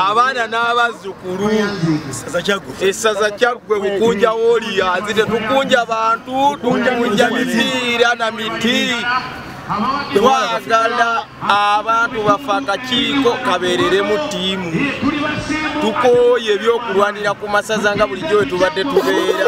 abaana n'abazzukulu essaza kyaggwe bukunja wooliya nzi tetukunja bantu tukunja mipiira na miti twagala abantu bafa akakiiko kabeereremu ttiimu tukooye ebyokulwanira ku masaza nga bulijjo we tubadde tubeera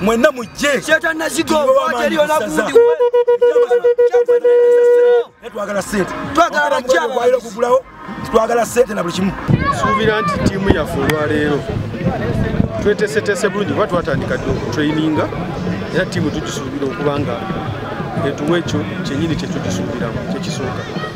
mwenna mujjetwagala sente okugulawo twagala sente na buli kimu suubira nti tiimu yaffe olwaleero twetesetese bulungi kuba twatandika dde okutraininga era tiimu tugisuubira okuba nga etuwa ekyo kyenyini kyetugisuubiramu kyekisooka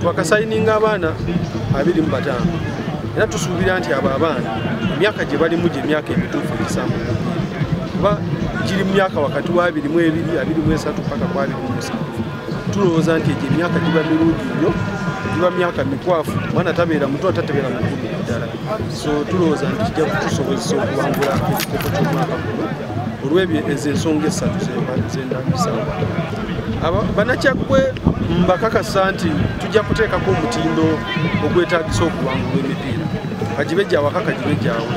twakasayininga abaana abiri mu bataano era tusuubira nti abo abaana emyaka gye balimu gye myaka emituufu egisamu kuba giri mu myaka wakati wa abiri mu ebiri abiri mu esatu paka ku abiri mu musanvu tulowooza nti egyo emyaka giba mirungi nnyo giba myaka mikwafu mwana tabeera muto atatebeera mukulu ddala so tulowooza nti kijja kutusobozesa okuwangula ekikopo ky'omwaka guno olw'ebyo ezo ensonga essatu zendabisawo banakyagwe mbakakasa nti tujja kuteekako omutindo ogwetagisa okuwangula emipiira kagibe gyawaka kagibe gyawe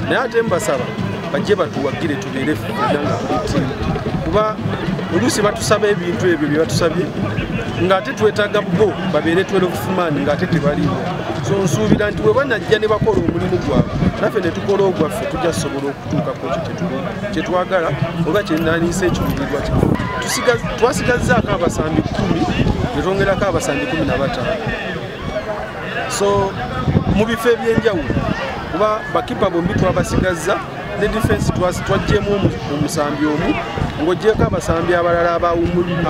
naye ate mbasaba bajje batuwagire tubeere fena nga tuli tiimu kuba oluusi batusaba ebintu ebyo bye batusabye ng'ate twetaaga bo babeere twelofumaani ng'ate tebaliwo so nsuubira nti bwe banajja ne bakola omulimu gwabwe naffe ne tukola ogwaffe tujja sobola okutuuka ku ekyo kyetwagala oba kyenaniisa ekiruubirirwa kya twasigazzaako abasambi kumi netwongerako abasambi kumi na bataano so mu bifo ebyenjawulo kuba bakipa bombi twabasigazza ne defense twajjemu omusambi omu ng'ogyeko abasambi abalala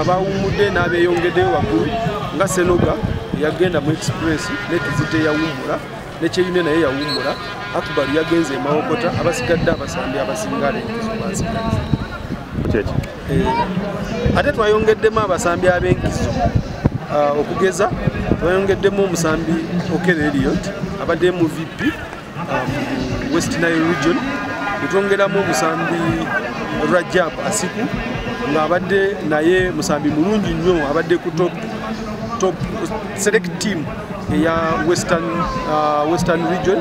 abawummudde n'abeyongeddeyo waggulu nga senoga yagenda mu express nekizita eyawummula ne kyeyune naye yawummula akbar yagenze emawokota abasigadde abasambi abasinga abenkizo bansigadde kyeki eh, ate twayongeddemu abasambi abenkizo ah, okugeza twayongeddemu omusambi okere eliot abadde mu vp ah, mu west nile region netwongeramu omusambi rajab asiku ng'abadde naye musambi mulungi nnyo abadde ku top top select team eya western, uh, western region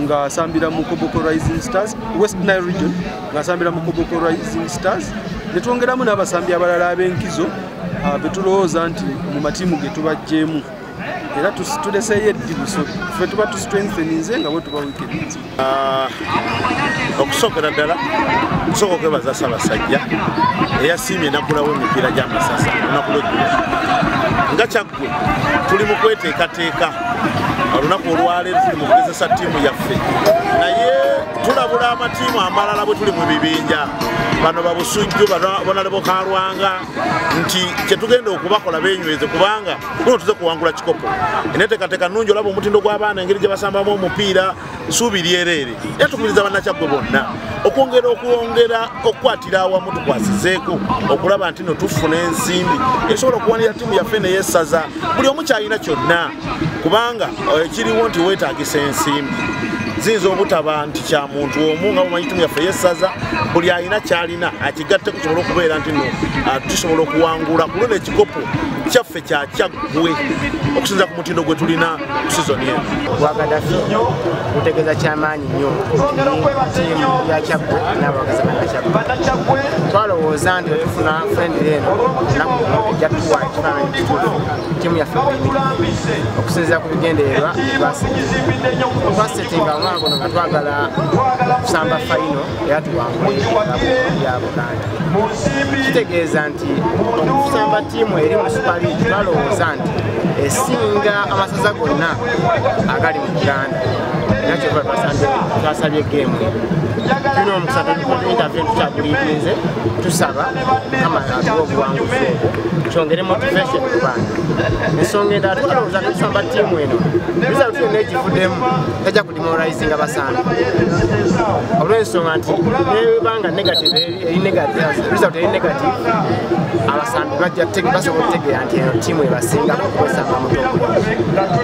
ng'asambira mu koboko rising stars west nile region ng'asambira mu koboko rising stars netwongeramu n'abasambi abalala ab'enkizo uh, betulowooza nti mu matiimu ge tubajjeemu era tuleseeyo eddibuso fe tuba tustrengtheninze nga bwe tuba wikedi Ah, okusookera ddala kusooka okwebaza ssabasajja eyasiimye nakulawo emipiira gy'amasasa olunaku lweggulo nga kyaggwe tuli mu kweteekateeka olunaku olwaleero tuli mu kugezesa ttiimu yaffe naye tulabula amatiimu amalala bwe tuli mu bibinja bano babusujju bonalebo kalwanga nti kyetugenda okubakola benyweze kubanga kuno tuze kuwangula kikopo eneteekateeka nnungi olaba omutindo gw'abaana engeri gye basambamu omupiira suubi lyereere era tukubiriza bannakyaggwe bonna okwongera okwongera okukwatira awamu tukwasizeeko okulaba nti no tufuna ensimbi esobola okuwanira ttiimu yaffe neyesaza buli omu kyalina kyonna kubanga eh, kiriwo nti weetagisa ensimbi ziyinza obutaba nti kya muntu omu nga mumanyi timu yaffe yesaza buli alina kyalina akigatteko kisobola okubeera nti no ah, tusobola okuwangula kulwo nekikopo kyaffe kyakyaggwe okusinza ku mutindo gwe tulina ku sizoni eno bwagadafi gutegeeza kyamaanyi nnyo tiimu yakyaggwe n'abawagizi banakyaggwe twalowooza nti wetufuna frendire eno nakujatuwa ekifaananyi kituufu tiimu yaffe okusinziira ku bigendererwa twasetinga omwaka guno nga twagala kusamba fayino era tuwangule ya buganda kitegeeza nti okusamba ttiimu eri mu supaliigi balowooza nti esinga amasaza gonna agali mu uganda era kyova twasabye geemu tulina omukisa tuintervie tukyaguliirinze tusaba kama atuwa obuwanguzi kyongere motivation ku baana ensonga endala tukalowooza netusamba ttiimu eno bizalo tulina negivuddemu tajja kudimoraizinga basaana olw'ensonga nti nebanga negative eri negative result eri negative abasambi bajja tege basobola otegeera nti eno tiimu ebasinga kukozesanga mutogo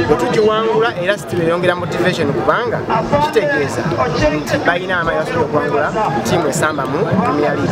bwe tugiwangula era sitimu eyongera motivation kubanga kitegeeza nti balina amaanyi basobola okuwangula tiimu esambamu premier league